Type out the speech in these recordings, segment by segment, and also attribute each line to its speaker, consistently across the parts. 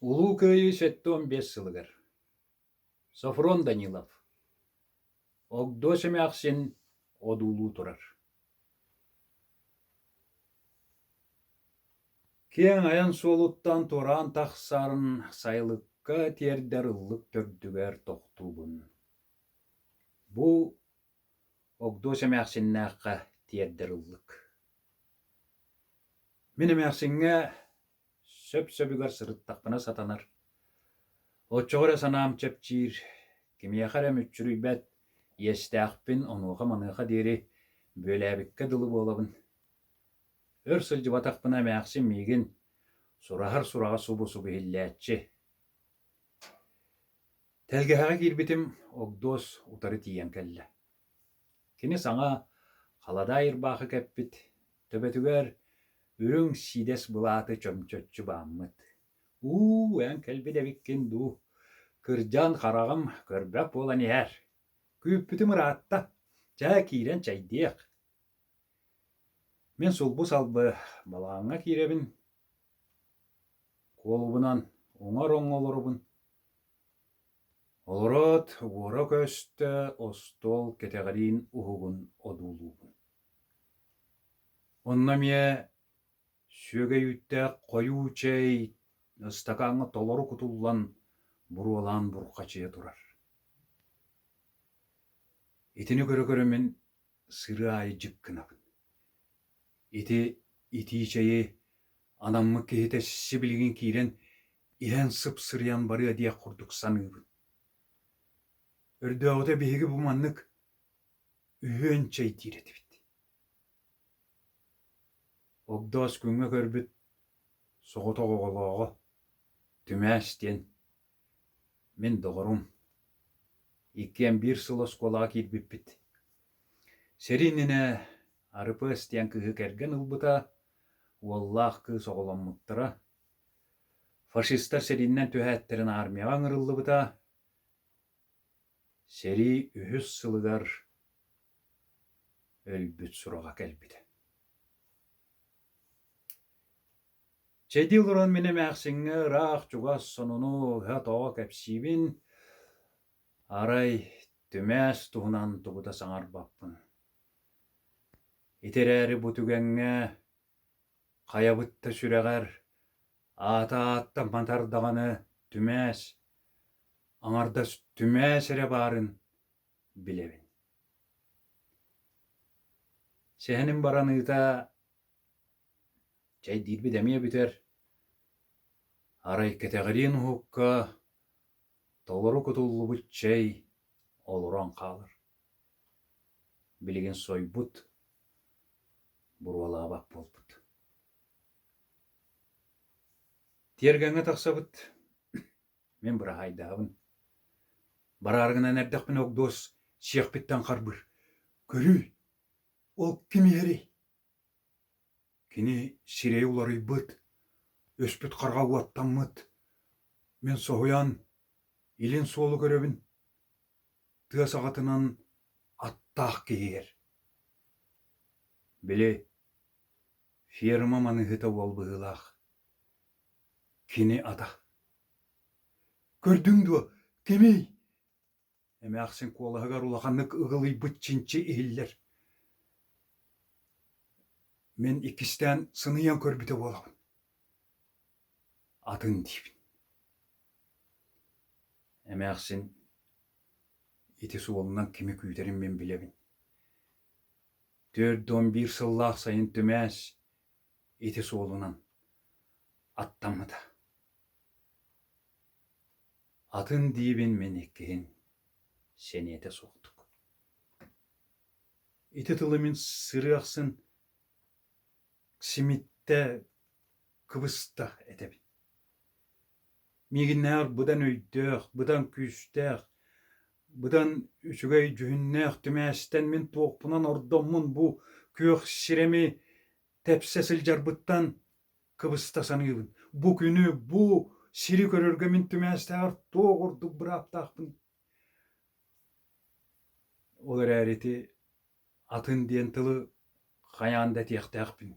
Speaker 1: Улуу Кыайыы сэттэ уон биэс сылыгар Софрон Данилов Огдос эмээхсин одуулуу турар Киэҥ айан суолуттан туораан тахсарын сайылыкка тиэрдэр ыллык төрдүгэр тохтуубун. Бу Огдуос эмээхсиннээххэ тиэрдэр ыллык Мин эмээхсиҥҥэ сөп-сөбүгэр сырыттахпына сатанар. Оччоҕо эрэ санаам чэпчиир, кимиэхэ эрэ мүччүрүйбэт иэстээхпин онуоха-маныаха диэри бүөлээбиккэ дылы буолабын. Өр сылдьыбатахпына эмээхсин миигин сураһар сураҕа субу-субу иһиллээччи. Тэлгэһэҕэ киирбитим, Огдуос утары тиийэн кэллэ. Кини саҥа халадаай ырбаахы кэппит, төбөтүгэр үрүҥ сиидэс былааты чөмчөччү бааммыт. «Уу, эн кэлбит эбиккин дуу? Кырдьан хараҕым көрбөк буолан иһэр. Күүппүтүм ыраатта. Чэ, киирэн чэйдиэх». Мин сулбу-салбы балаҕаҥҥа киирэбин, куолубунан уҥар оҥҥо олоробун. Олороот уора көстө, остуол кэтэҕириин уһугун одуулуубун. Онно эмиэ сүөгэй-үүттээх хойуу чэй, ыстакааҥҥа толору кутуллан буруолаан бурҕачыйа турар. Итини көрө-көрө мин сырыы аайы дьик гынабын. Ити итии чэйи анаммыт киһитэ сибилигин киирэн иһэн сып-сырыйан барыа диэх курдук саныыбын. Өрдөөҕүтэ биһиги бу маннык үһүөн чэй диир этибит. Огдоос күҥҥэ көрбүт соҕотох оҕолооҕо Түмээс диэн Мин доҕорум, иккиэн биир сыл оскуолаҕа киирбиппит. Сэрии иннинэ Арыпыас диэн кыыһы кэргэн ылбыта, уоллаах кыыс оҕоломмуттара. Фашистар сэрииннэн түһээттэрин аармыйаҕа ыҥырыллыбыта. Сэрии үһүс сылыгар өлбүт сураҕа кэлбитэ. Чэ ити олорон мин эмээхсиҥҥэ ыраах чугас сонуну ыһа-тоҕо кэпсиибин, арай түмээс туһунан тугу да саҥарбаппын. Ити эрээри бу түгэҥҥэ хайабыт да сүрэҕэр аата ааттан матар даҕаны түмээс, аҥардас түмээс эрэ баарын билэбин. Сэһэним бараныыта Чэйдиирбит эмиэ бүтэр, арай кэтэҕириэн уһукка толору кутуллубут чэй олорон хаалар. Билигин сойбут, буруолаабат буолбут. Тиэргэҥҥэ тахсабыт, мин быраһаайдаабын. Барааргынан эрдэхпинэ Огдуос Сиэхпиттэн харбыыр. Көрүүй, ол ким иһэрий? Кини сирэйэ уларыйбыт, өспүт харҕа уоттаммыт, мин соһуйан, илин суолу көрөбүн, тыа саҕатынан аттаах киһигэр: Били ферма маныыһыта уол быһыылаах, кини атах. Көрдүҥ дуо, кимий? Эмээхсин куолаһыгар улаханнык ыгылыйбыт чинчи иһиллэр Мин иккистээн сыныйан көрбүтэ буолабын атын диибин Эмээхсин ити суолунан кими күүтэрин мин билэбин Түөрт уон биир сыллаах сайын түмээс ити суолунан аттаммыта Атын диибин мин иккиһин, сэниэтэ суохтук. Ити тылы мин сырыы ахсын симиттэ кыбыстах этэбин. Миигиннээх быдан өйдөөх, быдан күүстээх, быдан үчүгэй дьүһүннээх түмээстэн мин туохпунан ордоммун бу күөх сирэми тэпсэ сылдьарбыттан Кыбыста саныыбын, бу күнү, бу сири көрөргө мин түмээстээҕэр туох ордук бырааптаахпын. Ол эрээри ити атын диэн тылы хайаан да этиэхтээхпин.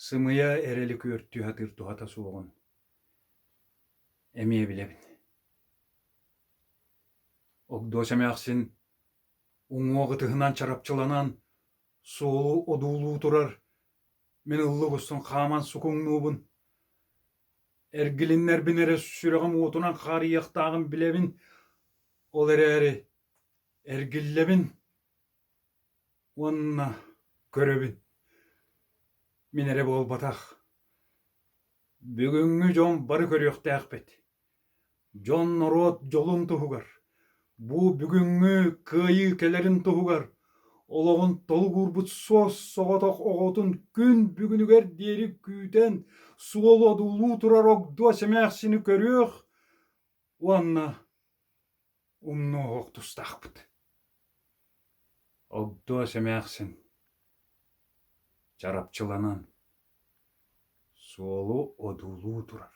Speaker 1: Сымыйа эрэ лүкүөр түһэ сатыыр туһата суоҕун эмиэ билэбин. Огдос эмээхсин уҥуох ытыһынан чарапчыланан Суолу одуулуу турар, мин ылла угустан хааман сукуҥнуубун. Эргилиннэрбин эрэ сүрэҕим уотунан хаарыйыахтааҕын билэбин, ол эрээри эргиллэбин уонна көрөбүн. Мин эрэ буолбатах. Бүгүҥҥү дьон бары көрүөхтээхпит Дьон норуот дьолун туһугар, бу бүгүҥҥү кыайыы кэлэрин туһугар олоҕун толук уурбут суос-соҕотох оҕотун күн бүгүнүгэр диэри күүтэн суол-одуулуу турар огдуо сэмээхсини көрүөх уонна Умнуох тустаахпыт Огдоос эмээхсин Чарапчыланан Суолу одуулуу турар